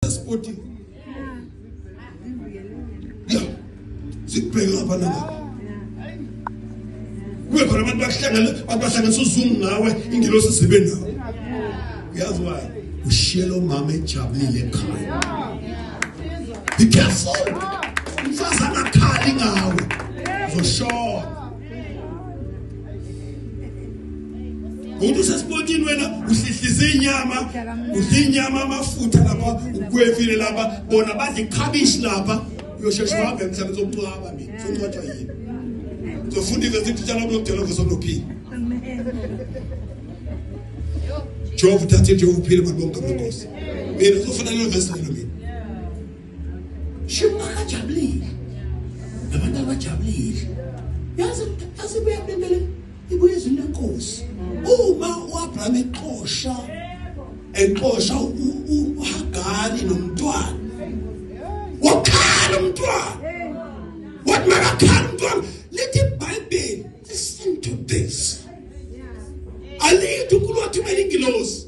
sporting ya sikubheke lapha nalapha kube khona abantu bakuhlangana abantu bahlanganisa uzungu ngawe ingelosi isibe nawe uyazi wayo ushiye lo mama ejabulile ekhaya be careful umfazi angakhali ngawe uzoshona umuntu usesipotini wena uhlihlisa inyama udla inyama amafutha lapha ukwefile lapha bona badla ikhabishi lapha uyosheshe uhambe emhlabeni sokucwaba mina sokucwatshwa yini uzofunda ivesi ukuthi tshala kulokudela ngosonophile jehova uthathe nje uphile bantu bonke amankosi mina uzofuna lelo vesi lelo mina Shimo akajabulile. Abantu abajabulile. Yazi yazi buyabembele ibuye izini lenkosi. Uma uAbraham exosha exosha uHagari nomntwana. Wakhala umntwana. Wathi makakhala umntwana. Lithi iBhayibheli listen to this. Alithi uNkulunkulu wathumela ingilosi.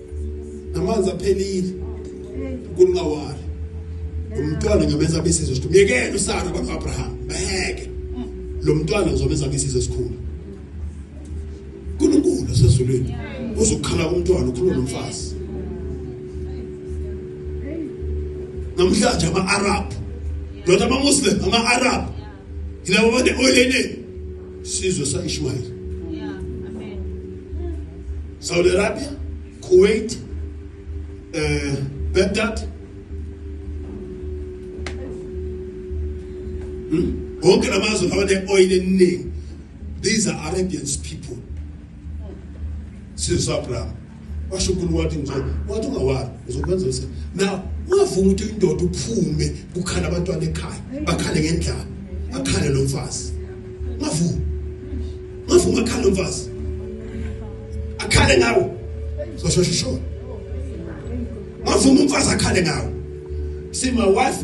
amanzi aphelile uNkulunkulu ngawala umntwana ngameza abesizwe sikhulu myekeni usana abantu Abraham baheke lo mntwana ngizomeza abesizwe sikhulu uNkulunkulu osezulwini uzokukhala umntwana ukhuluma nomfazi namhlanje ama-arab not ama-muslim ama-arab Ilabo abantu oyilene sizwe saIshmael. Yeah, amen. Saudi Arabia, Kuwait, eh Baghdad. Hmm? Wonke lamazwe abane oil eningi. These are Arabians people. Sizwe saAbraham. washo unkulunkulu wathi nje wathi ungawali uzokwenza usa now ungavuma ukuthi indoda uphume kukhala abantwana ekhaya bakhale ngendlala akhale lo mfazi ungavuma ungavuma akhale lo mfazi akhale ngawo soshosho sho ungavuma umfazi akhale ngawo see my wife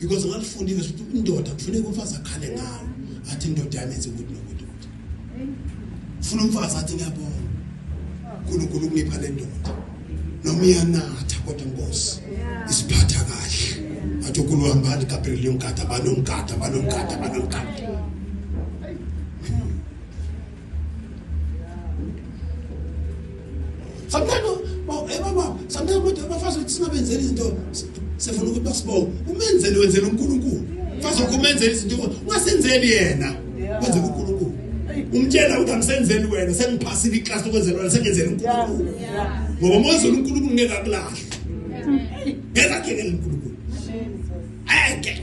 because ngalifundile ukuthi indoda kufuneka umfazi akhale ngawo athi indoda yami yenze ukuthi nokuthi ukuthi funa umfazi athi ngiyabona uNkulunkulu ungipha le ndoda noma iyanatha kodwa inkosi isiphatha kahle athi ukuluhambani Gabriel yomgada banomgada banomgada banomgada sometimes ebaba sometimes kodwa abafazi ukuthi singabenzeli izinto sifuna ukuthi basibonge umenzeli wenzela uNkulunkulu mfazi wakho umenzela izinto ungasenzeli yena wenze uNkulunkulu umtshela ukuthi angisenzeli wena sengiphasile iclass okwenzela wena sengenzela uNkulunkulu ngoba mozela uNkulunkulu ngeke akulahle ngeke akhe uNkulunkulu ayeke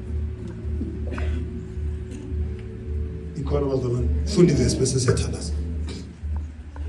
ikhona bazalwane funda ivesi bese siyathandaza